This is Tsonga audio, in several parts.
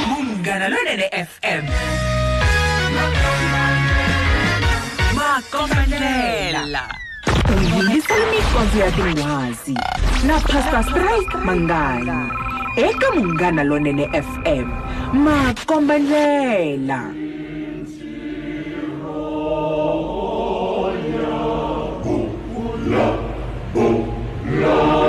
Munghana lonene FM. Makombandlela. Uyingisa imifazi ya tinghwazi na Pastor Strike Manganyi eka Munghana lonene FM. Makombandlela. Bula, bula.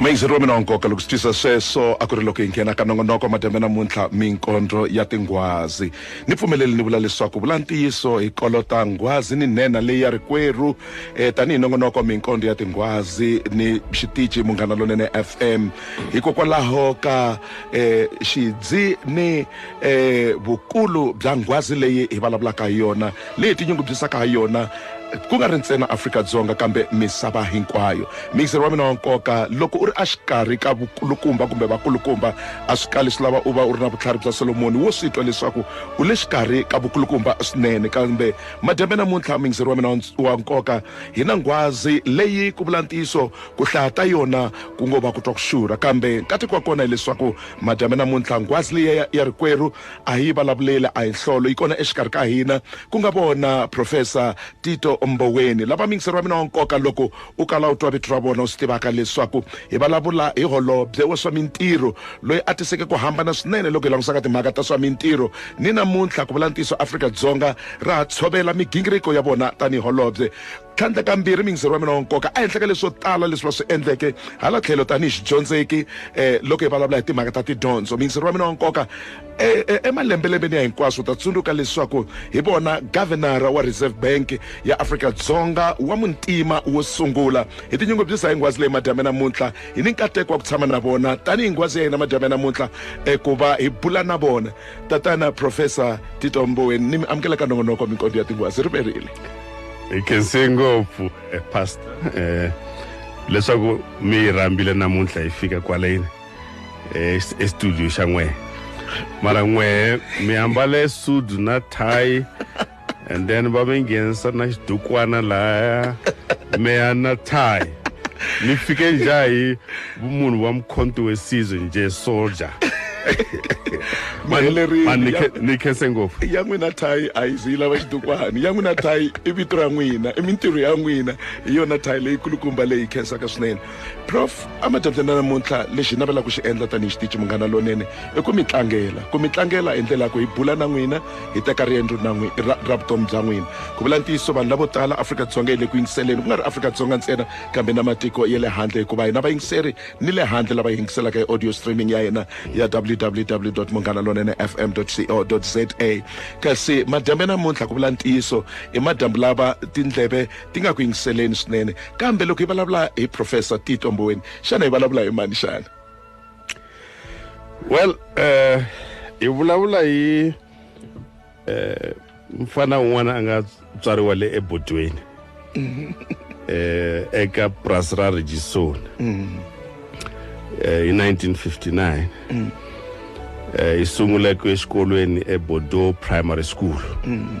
mayizeriwa mina wa nkoka loko swi tisa sweswo a ku ri loko hi nghena ka nongonoko madyambe namuntlha minkondlo ya tinghwazi ni pfumeleli ni vula leswaku vula ntiyiso hi kolota nghwazi ni nhenha leyi ya rikwerhu eh, tanihi nongonoko minkondlo ya tinghwazi ni xitici munghana lonene fm hikokwalaho ka eh, xidzi ni eh vukulu bya nghwazi leyi hi vulavulaka hi yona leyi tinyungubyisaka ha yona ku nga ri ntsena afrika-dzonga kambe misava hinkwayo miyiseri wa mina wa nkoka loko u ri exikarhi ka vukulukumba kumbe vakulukumba a swi kali swi lava u va u ri na vutlhari bya solomoni wo swi twa leswaku u le xikarhi ka vukulukumba swinene kambe madyambe namuntlha miyiseri wa mina wa nkoka hi na nghwazi leyi ku vula ntiyiso ku hlaya ta yona ku ngo va ku twa ku xurha kambe nkateko wa kona hileswaku madyambe namuntlha nghwazi leyi ya, ya rikwerhu a hi yi vulavuleli a hi nhlolo yi kona exikarhi ka hina ku nga vona profesa tito mboweni lava mingiseri wa mina wa nkoka loko u kala u twa vito ra vona u swi tivaka leswaku hi vulavula hi holobye wa swa mintirho loyi a tiseke ku hambana swinene loko hi langutisaka timhaka ta swa mintirho ni namuntlha ku vula ntiyiso afrika-dzonga ra ha tshovela migingiriko ya vona tanihi holobye tlhandlakambirhi mindziri wa mina wa nkoka a henhla ka leswo tala leswi va swi endleke hala tlhelo tanihi xidyondzeki um loko hi vulavula hi timhaka ta tidyondzo mindziri wa mina wa nkoka e, e, emalembelembeni ya hinkwaswo ta tsundzuka leswaku hi vona gavenara wa reserve bank ya afrika dzonga wa muntima wo sungula hi tinyungubyisa hi nghwazi leyi madyambe namuntlha hi ni nkateko wa ku tshama na vona tanihi nghwazi ya hina madyambe namuntlha um ku va hi bula na vona tatana profesa tito mboweni ni mi amukela ka nongonoko minkondo ya tinghwazi ri verile hi khense ngopfu eh, pastor eh, leswaku mi yi rhambile namuntlha hi fika kwaleni eh, es- estudio xa n'wehe mara n'wehe mi ambale sudu na thayi and then va mi nghenisa na xidukwana lahaya meya na tie ni fike nja hi vumunhu wa mkhonto wesizwe nje soldier Maheleri- Man, ni khe- ni khense ngopfu ya n'wina thayi a yi zi yi lava xidukwani ya n'wina thayi i vito ra n'wina i mintirho ya n'wina hi yona thayi leyi kulukumba leyi khensaka swinene prof amadyandza na namuntlha lexi navelaka ku xi endla tanihi xitici munghana lonene i ku mi tlangela ku mi tlangela hi ndlela ya ku hi bula na n'wina hi teka riendzo na ra, ra vutomi bya n'wina ku vula ntiyiso vanhu lavo tala afrika-dzonga yi le ku yingiseleni ku nga ri afrika-dzonga ntsena kambe na matiko ya le handle hikuva hina vayingiseri ni le handle lava yingiselaka hi audio streaming ya hina ya www munghana lonene fm co za kasi madyambe namuntlha ku vula ntiyiso i madyambu lava tindleve ti nga ku yingiseleni swinene kambe loko hi vulavula hi professor tito mboweni xana hi vulavula hi mani xana well uh, hi vulavula hi uh, mfana un'wana a nga tswariwa le ebodweni um eka purasi ra regisoni mm-hmm. hi 1959 mm. hi sunguleke exikolweni ebodo primary school mm.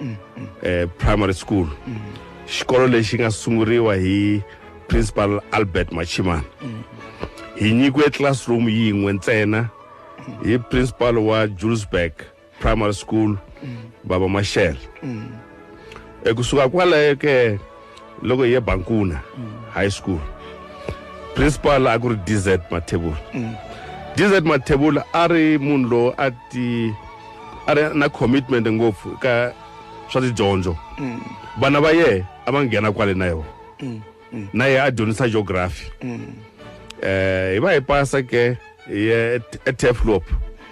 mm, mm. Eh, primary school mm. xikolo lexi nga sunguriwa hi principal albert machimana mm. hi nyikiwe classroom yin'we ntsena hi principal wa julesburg primary school mm. baba mashele mm. ekusuka kwalayo ke loko hi ye bankuna high school principal a ku ri dz mathebula dz mathebula a ri munhu lowu a ti a ri na commitment ngopfu ka swa tidyondzo vana va yehe a va nghena kwale na yona na yehe a dyondzisa geography um hi va hi pasa ke hi ye eteflop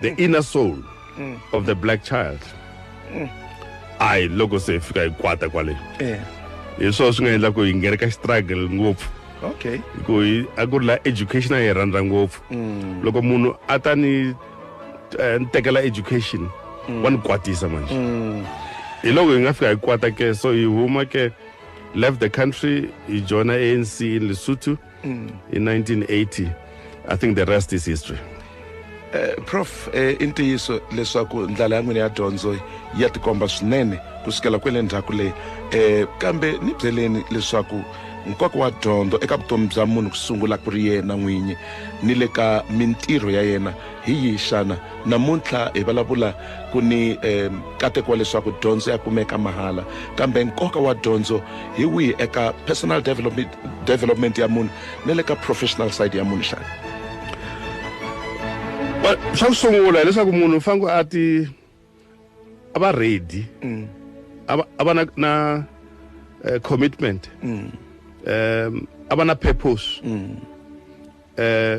the inner soul mm. of the black child mm. ayi loko se hi fika hi kwata kwale eh. hi swona swi nga endla ku hi nghena ka struggle ngopfu okay ku hi a ku ri la education a yi rhandza ngopfu mm. loko munhu a ta ni eh, ni tekela education wa ni kwatisa manje hi loko hi nga fika hi kwata ke so hi huma ke left the country hi joina anc in lesotho mm. in 1980 i think the rest is history Eh, prof eh, i ntiyiso leswaku ndlela ya n'wina ya dyondzo ya tikomba swinene ku sukela kwele ndzhaku leyi eh, kambe ni byeleni leswaku nkoka wa dyondzo eka vutomi bya munhu ku sungula ku ri yena n'winyi ni le ka mintirho ya yena hi yihi xana namuntlha hi vulavula ku ni eh, kateko wa leswaku dyondzo ya kumeka mahala kambe nkoka wa dyondzo hi wihi eka personal development, development ya munhu ni le ka professional side ya munhu xana swa ku sungula hileswaku munhu u fanele a ti a va ready mm. a va a va na na uh, commitment mm. um a va na purpose mm. uh,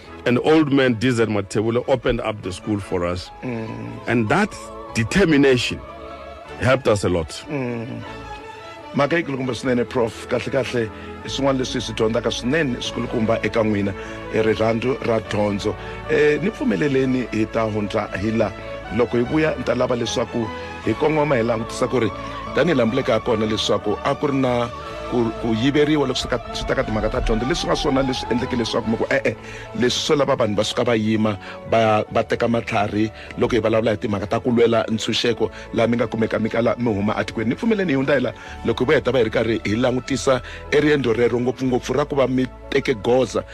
an old man, DZ Mathebula, opened up the school for us. Mm. And that determination helped us a lot. Mm. mhaka yi kulukumba swinene prof kahle kahle i swin'wana leswi hi swi dyondzaka swinene swi kulukumba eka n'wina e rirhandzu ra dyondzo e ni pfumeleleni hi ta hundza hi la loko hi vuya ni ta lava leswaku hi kongoma hi langutisa ku ri tanihi lambuleka ha kona leswaku a ku ri na ku ku yiveriwa loko swi ka swi ta ka timhaka ta dyondzo leswi nga swona leswi endleke leswaku mi ku e-e leswi swo lava vanhu va suka va yima va va teka matlhari loko hi vulavula hi timhaka ta ku lwela ntshunxeko laha mi nga kumeka mi kala mi huma atikweni ni pfumeleni hi hundza hi la loko hi va heta va hi ri karhi hi langutisa eriendzo rero ngopfungopfu ra ku va mi teke goza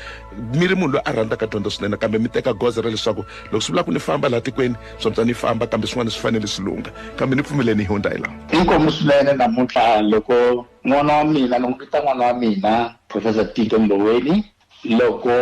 mi ri munhu loyi a rhandzaka dyondzo swinene kambe mi teka goza ra leswaku loko swi vula ku ni famba laha tikweni swapsa ni famba kambe swin'wana swi fanele swi lungha kambe ni pfumeleni hi hundza hi laha inkomu swinene namuntlha loko n'wana wa mina ni n'wi vita n'wana wa mina professor tito mboweni loko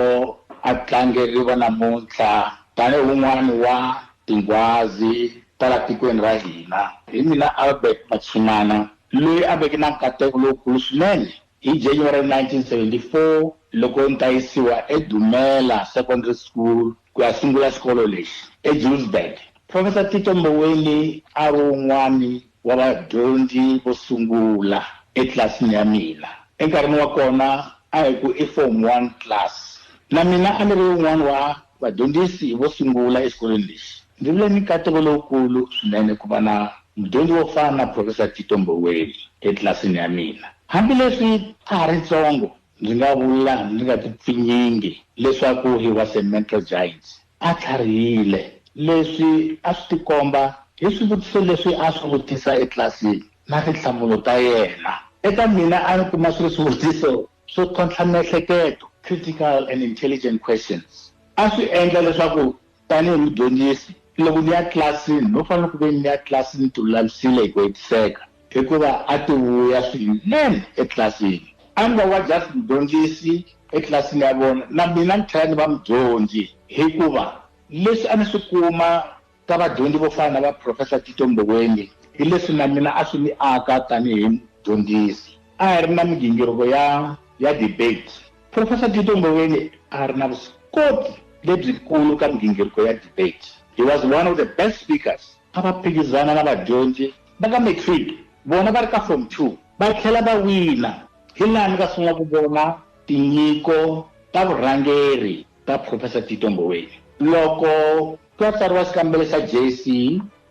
a tlangeriwa namuntlha tanihi wun'wani wa tinghwazi ta la tikweni ra hina hi mina albert machimana loyi a veke na nkateko lowukulu swinene Hi January 1974, loko ni ta yisiwa eDumela Secondary School ku ya sungula xikolo lexi eJulesburg, Professor Tito Mboweni a ri un'wana wa vadyondzi vo sungula etlilasini ya mina. Enkarhini wa kona a hi ku i Form One class. Na mina a ni ri un'wana wa vadyondzisi vo sungula exikolweni lexi. Ndzi vile ni nkateko lowukulu swinene ku va na mudyondzi wo fana na Profesa Tito Mboweni etlilasini ya mina. Hambileswi a ha ri ntsongo, ndzi nga vula ndzi nga tipfinyingi leswaku he was a mental giant. A tlharihile. Leswi a swi tikomba hi swivutiso leswi a swi vutisa etlilasini na tinhlamulo ta yena. Eka mina a ni kuma swi ri swivutiso swo tlhontlha miehleketo, critical and intelligent questions. A swi endla leswaku Tanihi mudyondzisi, loko ni ya tlilasini no fanele ku ve ni ya tlilasini ni tilulamisile hi ku hetiseka, hikuva a ti vuya swinene etlilasini. A ni nga wa just mudyondzisi etlilasini ya vona, na mina ni tlhela ni va mudyondzi, hikuva leswi a ni swi kuma ka vadyondzi vo fana na va Professor Tito Mboweni hi leswi na mina a swi ni aka tanihi mudyondzisi. A hi ri na migingiriko ya ya debate. Profesa Tito Mboweni a ri na vuswikoti lebyikulu ka migingiriko ya debate. He was one of the best speakers. A va phikizana na vadyondzi va ka matric vona va ri ka form two va tlhela va wina. Hi laha ni nga sungula ku vona tinyiko ta vurhangeri ta Profesa Tito Mboweni. Loko Ka tsariwa xikambelo xa JC.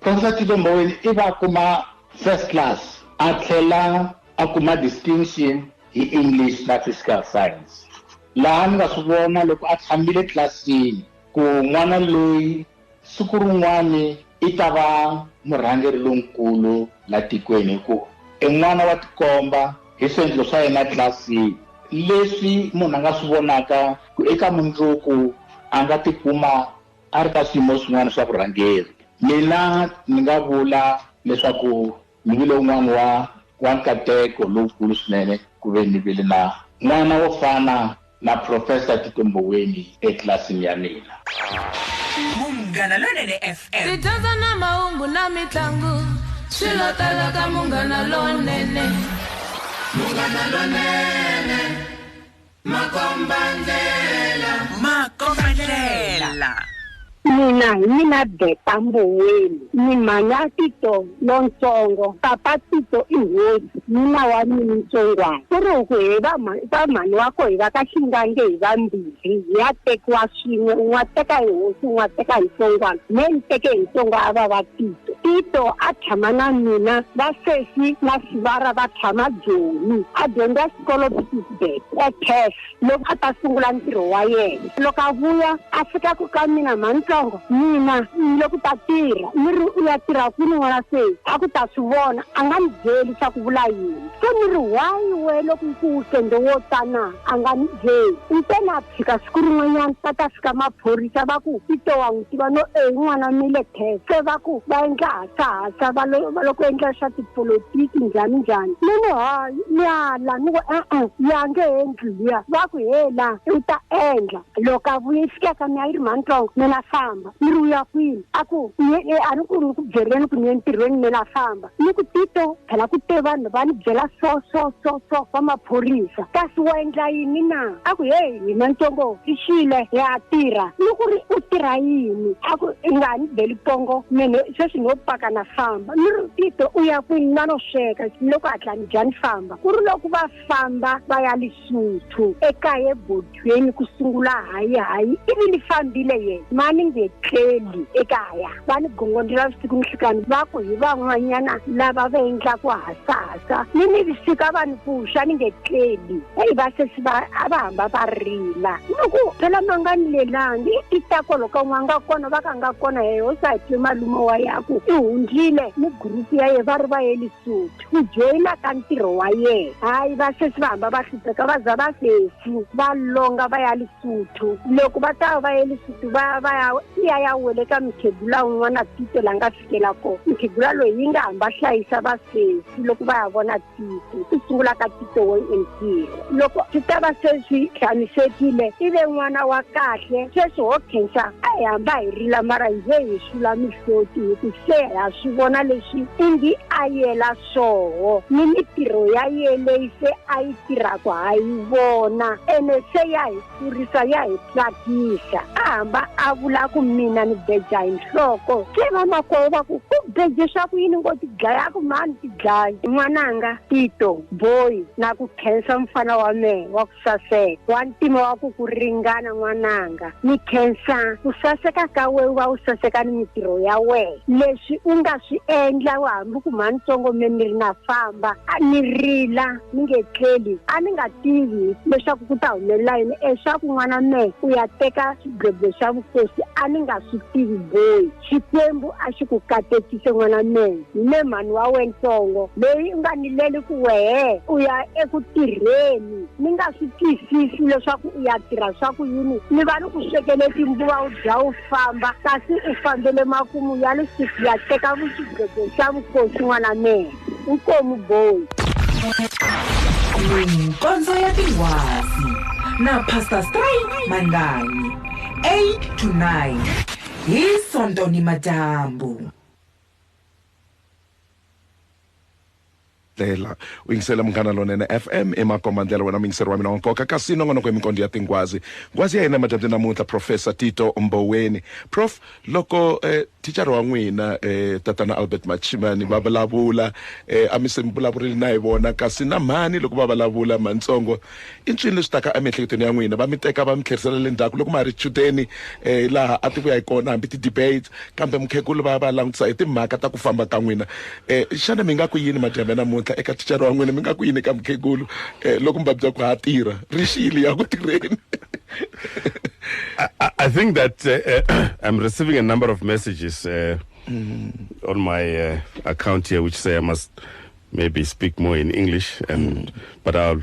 Constantino Mboweni ivi a kuma First Class a tlhela a kuma Distinction hi English na Physical Science. Laha ni nga swi vona loko a tshamile tlilasini ku n'wana loyi siku rin'wani i ta va murhangeri lonkulu la tikweni hi ku i n'wana wa tikomba hi swiendlo swa yena tlilasini. Leswi munhu a nga swi vonaka ku eka mundzuku a nga tikuma A ri ka swiyimo swin'wana swa vurhangeri. Mina ni nga vula leswaku ni vile un'wana wa wa nkateko lowukulu swinene ku ve ni vile na n'wana wo fana na Profesa Tito Mboweni etlilasini ya mina. Munghana Lonene FM. Tidyondzo na mahungu na mitlangu swi lo tala ka Munghana Lonene. Munghana Lonene. makombandlela makombandlela mina hi mina beta mboweni ni mhanya tito lontsongo papa tito i hosi nuna wa mina ntsongwana ku ri ku hi vamhani wa ko hi va ka xingange hi vambirhi hi ya tekiwa swin'we un'wa teka hi hosi un'wa teka hi ntsongwana me ni teke hi ntsongo a va va tito tito a tshama na mina va sesi na sivara va tshama joni a dyondza xikolo Tuesday wa cash loko a ta sungula ntirho wa yena loko a vuya a fika ku ka mina mhanitsongo mina ni le ku ta tirha ni ri u ya tirha kwini n'wana se a ku ta swi vona a nga ni byeli swa ku vula yini se ni ri why we loko yi ku wukende wo tana a nga ni byeli ntena fika siku rin'wanyana va ta fika maphorisa va ku tito wa n'wi tiva no e n'wana mile test se va ku va endla hasahasa va loko endla swa tipolotiki njhani njhani ni ni hayi ni ala ni ku e-e ya nge endli luya va ku he la u ta endla loko a vuye fikaka mi ya yi ri mantsongo mina famba ni ri uya kwini a ku a ni ku ni ku byeleni ku ni ye ntirhweni mina famba ni ku tito phela ku te vanhu va ni byela so so so so va maphorisa kasi wa endla yini na a ku heyi hina ntongo i xile ya tirha ni ku ri u tirha yini a ku i nga ni beli pongo mene sweswi no paka na famba ni ri tito u ya kwini na no sweka loko hatla ni dya ni famba ku ri loko va famba va ya li Xisuthu ekaya eBodweni ku sungula hayi hayi ivi ni fambile ye ma ni nge tleli ekaya va ni gongondela vusiku ni hlikani va ku hi van'wanyana lava va endlaku hasahasa ni ni vusiku a va ni pfuxa ni nge tleli eyi va sesi va a va hamba va rila ni ku phela ma nga ni lelangi i ta kolo ka n'wa nga kona va ka nga kona hehe u sa twe malume wa yaku i hundzile ni gurupu ya ye va ri va ye Lesotho ku joyina ka ntirho wa yena hayi va sesi va hamba va hlupheka va za va sesi va longa va ya lisuthu loko va ta va ye lisuthu va va ya iya ya wele ka mukhegula un'wana tito la nga fikela kona mukhegula loyi yi nga hamba hlayisa va sesi loko va ya vona tito ku sungula ka tito wo entirho loko swi ta va se swi tshamisekile i ve n'wana wa kahle sweswi ho khensa a hi hamba hi rila mara hi ze hi sula mihloti hi ku se ha swi vona leswi ingi a yela swoho ni mitirho ya ye leyi se a yi tirhaka ha yi vona ene se ya hi maphorisa ya hi tsakisa a hamba a vula ku mina ni beja hi nhloko se vamakwavo va ku ku beje swa ku yini ngo ti dlayaku mani ti dlayi n'wananga tito boyi na ku khensa mfana wa mehe wa ku saseka wa ntima wa ku ku ringana n'wananga ni khensa ku saseka ka we u va u saseka ni mitirho ya wehe leswi u nga swi endla wa hambi ku mhani tsongo me ni ri na famba a ni rila mi nge tleli a ni nga tivi leswaku ku ta humelela yini leswaku n'wana mehe u ya teka xigweble xa vukosi a ni nga swi tivi boyi xikwembu a xi ku katekise n'wana mehe me mhani wa wentsongo loyi u nga ni leli ku wehe u ya eku tirheni ni nga swi twisisi leswaku u ya tirha swa ku yini ni va ni ku swekele timbuva u dya u famba kasi u fambele makumu ya lisiku ya teka vuxigweble xa vukosi n'wana mehe Inkomu boy. Minkondzo ya tinghwazi na Pastor Stray Manganyi 8 to 9 hi Sonto ni madyambu. ndlela u yingisela munghana lonene fm emakomba ndlela wena muyingiseri wa mina wa nkoka kasi nongonoko hi minkondo ya tinghwazi nghwazi ya hina emadyambyini namuntlha professor tito mboweni prof Loko eh, thicara wa n'wina eh, tatana Albert Machimani va vulavula eh, a mi se mi vulavurile na hi vona kasi na mhani loko va vulavula mantsongo i ncini leswi taka emiehleketweni ya n'wina va mi teka va mi tlherisela le ndzhaku loko ma ha ri chudeni eh, laha a ti vuya hi kona hambi ti-debate kambe mukhegulu va va langutisa hi timhaka ta ku famba ka n'wina E, xana mi nga ku yini madyambe namuntlha eka ticare wa n'wina? Mi nga ku yini eka mukhegulu e, loko mi va byela ku ha tirha ri xiyile ya ku tirheni? I, I, I think that uh, uh, I'm receiving a number of messages uh, mm. on my uh, account here which say I must maybe speak more in English, and mm. but I'll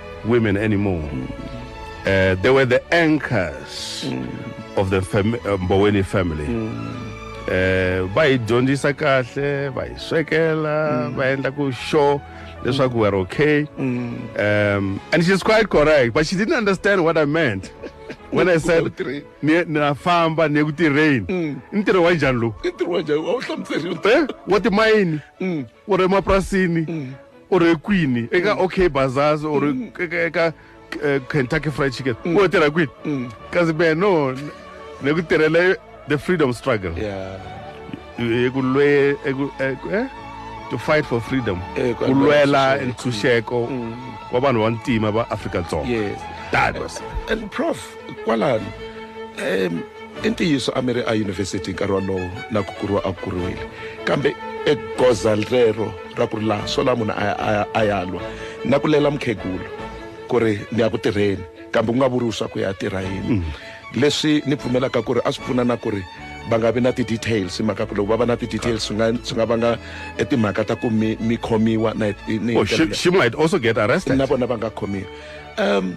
women anymore. Uh, they were the anchors of the fam- uh, Mboweni family. Eh, va hi dyondzisa kahle va hi swekela va endla ku sure leswaku we're okay um, and she's quite correct but she didn't understand what i meant when i said Utirheni. "Ni- na famba ni ya ku tirheni i ntirho wa njhani lowu i ntirho wa njhani a wu hlamuseriwa Eh, wa timayini wa le mapurasini u ri kwini eka mm. okay bazazi or mm. eka eh, kentucky fried chicken mm. u tirha kwini kasi me no ni ku tirhela the freedom struggle hi ku lwe eh? to fight for freedom eh, ku lwela ntshunxeko wa vanhu va ntima va afrika dzonga that was and prof kwalano um i ntiyiso a mi ri eyunivhesiti nkarhi wolowo na ku kuriwa a kuriwile kambe egoza rero ra ku ri laha swo laha munhu a ya lwa na ku lela mukhegulu ku ri ni ya ku tirheni kambe ku nga vuriwi swa ku ya tirha yini mm. leswi ni pfumelaka ku ri a swi pfuna na ku ri va nga vi na ti-details hi mhaka ku loko va va na ti-details swi nga swi nga vanga e timhaka ta ku mi mi khomiwa na oh, she, she might also get arrested na vona va nga khomiwa um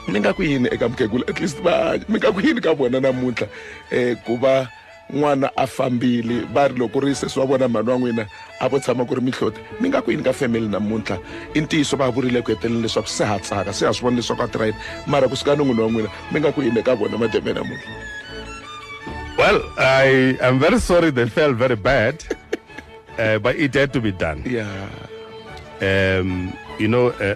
mi nga ku yini eka mukhegula at least va hanya mi nga ku yini ka vona namuntlha um ku va n'wana a fambile va ri loko ri sesi wa vona mhani wa n'wina a vo tshama ku ri mihloti mi nga ku yini ka family namuntlha i ntiyiso va vurile ku heteleni leswaku se ha tsaka se ha swi vona leswaku a tirha yini mara kusuka ni n'wini wa n'wina mi nga ku yini eka vona mademe namuntlha well i am very sorry they felt very bad uh, but it had to be done yeah. um, you know uh,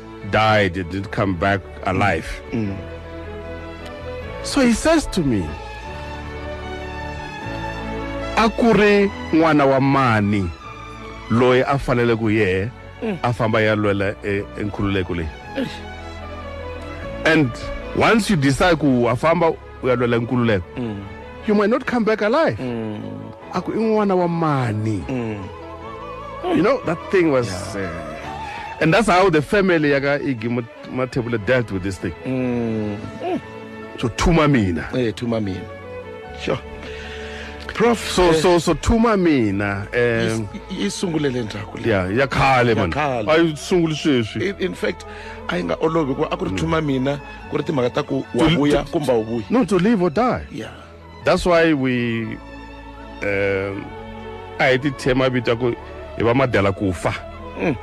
died, he didn't come back alive. Mm. So he says to me, a ku ri n'wana wa mani loyi a fanele ku yehe mm. a famba ya lwela e, enkhululeko leyi and once you decide ku wa famba u ya lwela nkululeko you might not come back alive a ku i n'wana wa mani you know that thing was uh, and that's how the family ya ka igi Mat- mathebula dealt with this thing so thuma mina eh thuma mina sure prof so eh, so so thuma mina is- um yi sungule le ndzhaku leyi. ya ya khale man khale. a yi sunguli sweswi in in fact a yi nga olovi hikuva a ku ri thuma mina ku ri timhaka ta ku wa vuya kumbe wu vuyi no to live or die yeah that's why we um a hi ti thema vita ku hi va madela ku fa mm.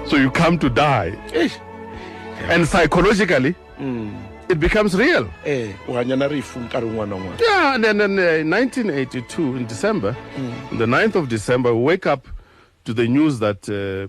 so you come to die Eish. and psychologically mm. it becomes real eh u hanya na rifu nkarhi un'wana un'wana yeah and then, then uh, 1982 in december mm. the 9th of december we wake up to the news that uh,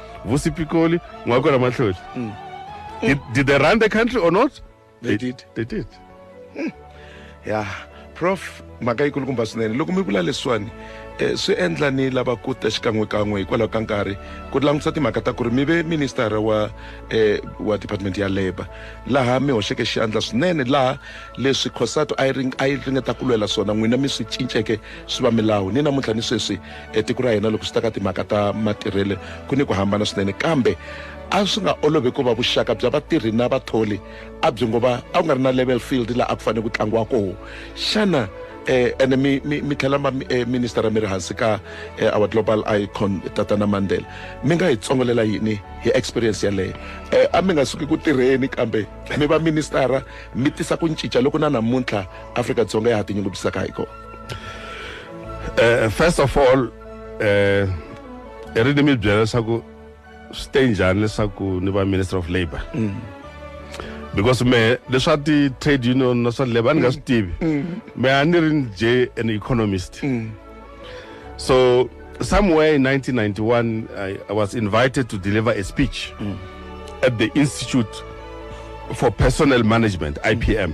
Vusi Pikoli, Ngwakora Mahloli. Mm. Did, did they run the country or not? They, they did. They did. Mm. Yeah. Prof, mhaka yi kulukumba swinene loko mi vula leswiwani eh, swi endla ni lava ku ta xikan'wekan'we hikwalaho ka nkarhi ku langutisa timhaka ta ku ri mi ve ministara wa eh, wa department ya labour laha mi hoxeke xandla swinene laha leswi khosato a yi ringeta ku lwela swona n'wina mi swi cinceke swi va milawu ni namuntlha ni sweswi etiko ra hina loko swi ta ka timhaka ta matirhelo ku ni ku hambana swinene kambe a swi nga olovi ku va vuxaka bya vatirhi na vatholi a byi ngo va a ku nga ri na level field laha a ku fanele ku tlangiwa koho xana eh ene mi mi mi tlhela ma eh, minister mi ri hansi ka eh, our global icon tatana mandela mi nga hi tsongolela yini hi experience yaleyo eh, a mi nga suki ku tirheni kambe mi va ministara mi tisa ku cinca loko na namuntlha afrika dzonga ya ha tinyungubyisaka hi kona eh first of all eh i ri ni mi byela leswaku swi te njhani leswaku ni va minister of labour mm. because me leswa ti-trade union na swa labour a ni nga swi mm. tivi mm. me a ni ri ni je an economist so somewhere in 1991 I, I was invited to deliver a speech at the institute for personnel management ipm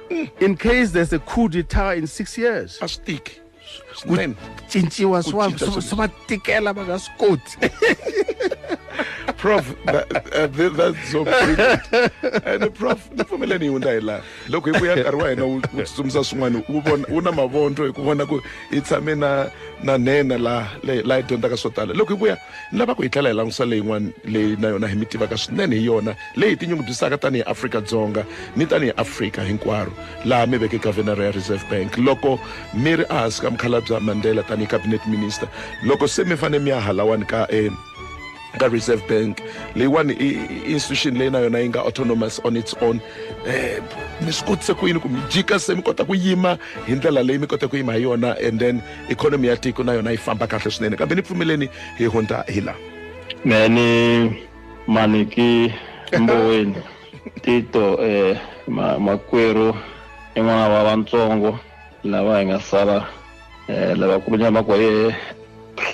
in case there's a coup d'etat in six years a swi tiki ku swinene cinciwa swi va- cinca swi swilo. swi va tikela va nga swi koti prof that, uh, th- that's so brilliant. and prof ni pfumela ni yi hundza hi laha loko hi vuya nkarhi wa hina wu wu tsutsumisa swin'wana wu vona wu na mavondlo hi ku vona ku hi tshame na na nhenha laha le- laha hi dyondzaka swo tala loko hi vuya ni lava ku hi tlhela hi langutisa leyin'wana leyi na yona hi mi tivaka swinene hi yona leyi hi tinyungubyisaka tanihi afrika-dzonga ni tanihi afrika hinkwaro laha mi veke governor ya reserve bank loko mi ri ehansi ka mukhalabya mandela tanihi cabinet minister loko se mi fanele mi ya halawani ka um ka reserve bank leyiwani i institution leyi na yona yi nga autonomous on its own um mi swi kotise ku yini ku mi jika se mi kota ku yima hi ndlela leyi mi kota ku yima hi yona and then ikhonomi ya tiko na yona yi famba kahle swinene kambe ni pfumeleni hi hundza hi la me ni maniki mboweni tito eh, ma, makwerhu i n'wana wa vantsongo lava hi nga sala eh, lavakulu nyama kwa yehe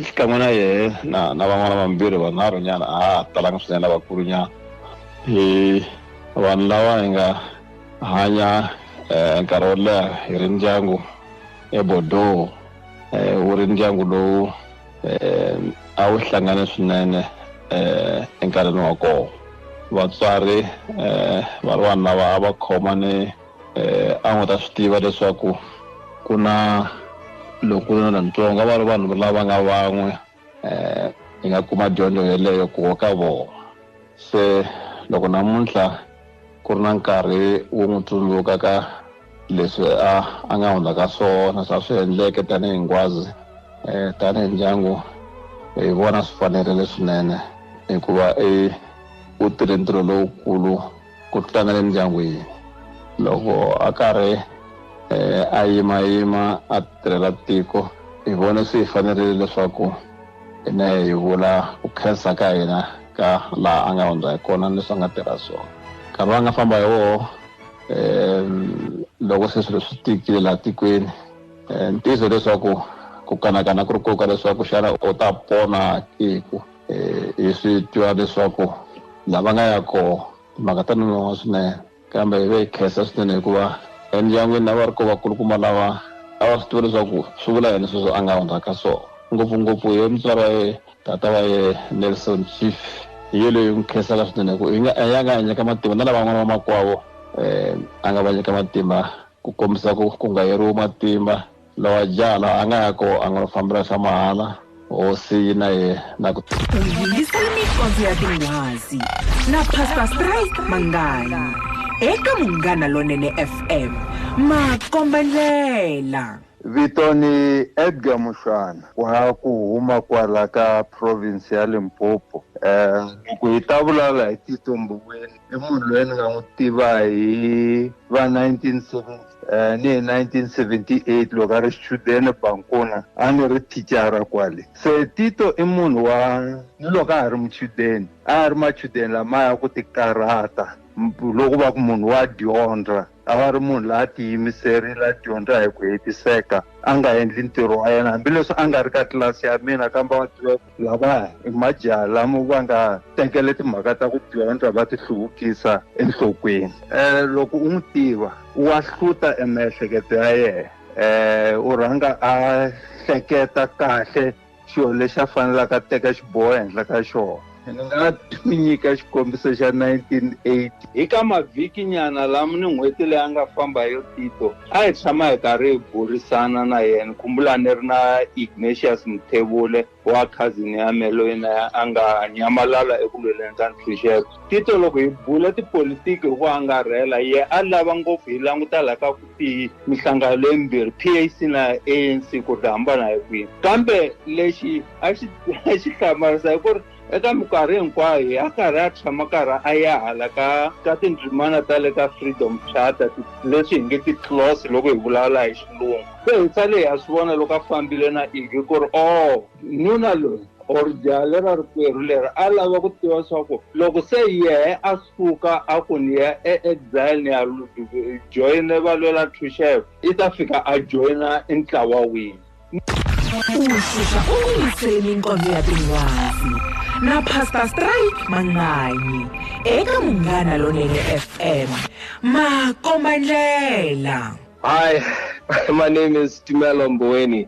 xikan'we na yehe na na van'wana vambirhi vanharhu nyana a ha talanga swinene lavakulu nyana hi vanhu lava hi nga hanya eh, nkarhi wo leha hi ri ndyangu ebordeaux eh, wu ri ndyangu lowu eh, a wu hlangane swinene eh, enkarhini wa koho vatswari eh, va ri vanhu lava a va khoma ni eh, a n'wi ta swi tiva leswaku ku na lokulu na lantsongo a va ri vanhu lava nga van'we eh, hi nga kuma dyondzo yeleyo kuwo ka vona se loko namuntlha ku ri na nkarhi wo n'wi tsundzuka ka leswi a a nga hundza ka swona swa swi endleke tanihi ngwazi um tanihi ndyangu hi vona swi fanerile swinene hikuva i u tirhe ntirho lowukulu ku tlanga le mindyangwini loko a karhi um a yimayima a tirhela tiko hi vone swi hi fanerile leswaku hi na hi vula ku khensa ka hina ka laha a nga hundza hi kona ni leswi a nga tirha swona nkarhi wa nga famba hi woho um loko se swilo swi tikile laha tikweni um ntiyiso leswaku ku kanakana ku ri koka leswaku xana u ta pona kiku eh, hi swi twa leswaku lava nga ya koho timhaka ta nonoha swinene kambe hi ve hi khensa swinene hikuva endyangwini lava ri ko vakulukumba lava a va swi tiva leswaku swi vula yini sweswo a nga hundzaka so ngopfungopfu hi mutswari wa ye tata wa ye nelson chief hi yo leyi n'wi khensaka swinene ku ya nga a nyika matimba na lavan'wana vamakwavo um eh, a nga va nyika matimba ku kombisa ku ku nga yeriwi matimba Lowa jaha la a nga ya ko a nga lo fambela swa mahala, hosi yi na ye na ku. U yingisele micondzo ya tinghwazi na Pastor Strike Manganyi eka Munghana Lonene FM, makombandlela. Vito ni Edgar Mushwana wa ku huma kwala ka province ya Limpopo. Loko hi ta vulala hi Tito Mboweni. i munhu loyi ni nga n'wi tiva hi va 1970 um eh, ni hi 1978 loko a ri xichudeni bankona a ni ri thicara kwale se tito i munhu wa ni loko a ha ri muchudeni a ya ri machudeni lamaya ku tikarhata loko va ku munhu wa dyondza a va ri munhu la a tiyimiserile a dyondza hi ku hetiseka a nga endli ntirho wa yena hambileswi a nga ri ka tlilasi ya mina kambe va tiva lava i majaha lama va nga tekele timhaka ta ku dyondza va ti hluvukisa enhlokweni um loko u n'wi tiva wa hluta emiehleketo ya yena um u rhanga a hleketa kahle xilo lexi a fanelaka a teka xiboho ehenhla ka xona ni nga mi nyika xikombiso xa 1980 hi ka mavhiki nyana lama ni n'hweti leyi a nga famba yo tito a hi tshama hi karhi hi burisana na yena kumbula ni ri na ignatius muthevule wa khazini ya me loyi na a nga nyamalala eku lweleni ka ntshunxeko Tito loko hi bula tipolitiki hi ku angarhela ye a lava ngopfu hi languta la ka ku tiyi mihlangano leyimbirhi PAC na ANC ku ri hambana hi kwihi kambe lexi a xi a xi hlamarisa hi ku ri eka minkarhi hinkwayo hi a karhi a tshama karhi a ya hala ka ka tindzimana ta le ka freedom charter leswi hi nge ti-clause loko hi vulavula hi xilungu se hi tsale hi ya swi vona loko a fambile na ivi ku ri o oh, nuna loyi or jaha lera rikwerhu leri a lava ku tiva leswaku loko se yehe a suka a ku ni ya eexile ni ya joyine valwela thuxevo i ta fika a joyina i ntlawa wini ushusha ukulungiseleni inkonzo ya tinwazi na pastor stray manganyi eka munghana lonene fm makombandlela hi my name is timelo mboweni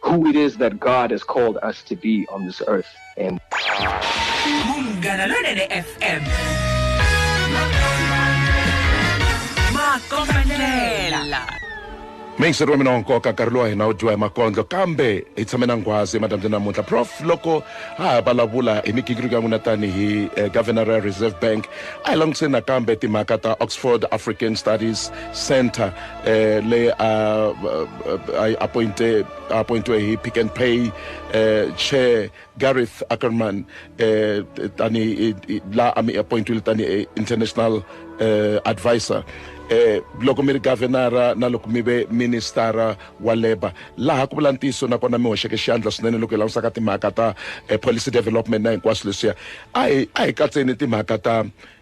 who it is that God has called us to be on this earth. And Mungana Londele FM. Makomanela. mixer wa mina wa nkoka nkarhi lowa hina wu dyiwa hi makondlo kambe hi tshame na nghwazi emadyambyeni namuntlha prof loko a ha vulavula hi migingiriko ya n'wina tanihi eh, governor ya reserve bank a hi langutiseni nakambe timhaka ta oxford african studies center eh leyi a a yi appointe a appointiwe hi pick and pay eh chair gareth ackerman eh tani la a mi appointiwile tani international eh advisor eh loko mi ri governora na loko mi ve ministara wa labour laha ku vula ntiyiso nakona mi hoxeke xandla swinene loko hi langusaka timhaka ta eh, policy development na hinkwaswo leswiya a hi a hi katseni timhaka ta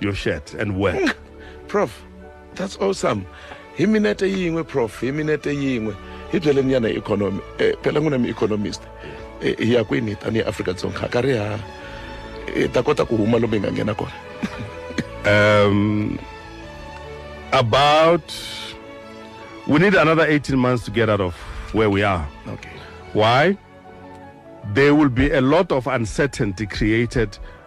your shirt and work mm. prof that's awesome hi minete yin'we prof hi minete yin'we hi byeleni yana economy eh, phela n'wina mi-economist eh, hi ya kwini tanihi afrika dzonga ka ri ha hi eh, ta kota ku huma lomu hi nga nghena kona um about we need another 18 months to get out of where we are okay why there will be a lot of uncertainty created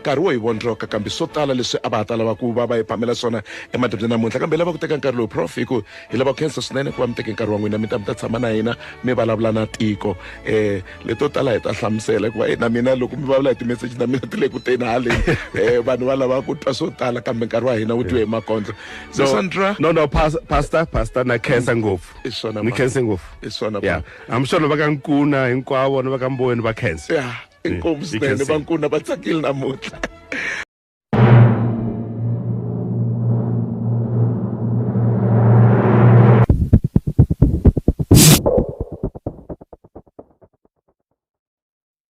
nkarhi wo hi vondzoka kambe swo tala leswi a va ha ta lava ku va va hi phamela swona emadibye namuntlha kambe hi lava ku teka nkarhi lowu prof hi ku hi lava ku khensa swinene ku va mi teke nkarhi wa n'wina mi ta mi ta tshama na hina mi vulavula na tiko um leto tala hi ta hlamusela hikuva na mina loko mi vulavula hi timeseji na mina ti le ku teni haleni um vanhu va lava ku twa swo tala kambe nkarhi wa hina wu twiwe hi makondlo so sandra no no pastor pastor na khensa ngopfu i swona ni khense ngopfu i swona yeah i'm sure va ka nkuna hinkwavo ni va ka mboweni va khensa yeah inkomu swinene vankuna va tsakile namuntlha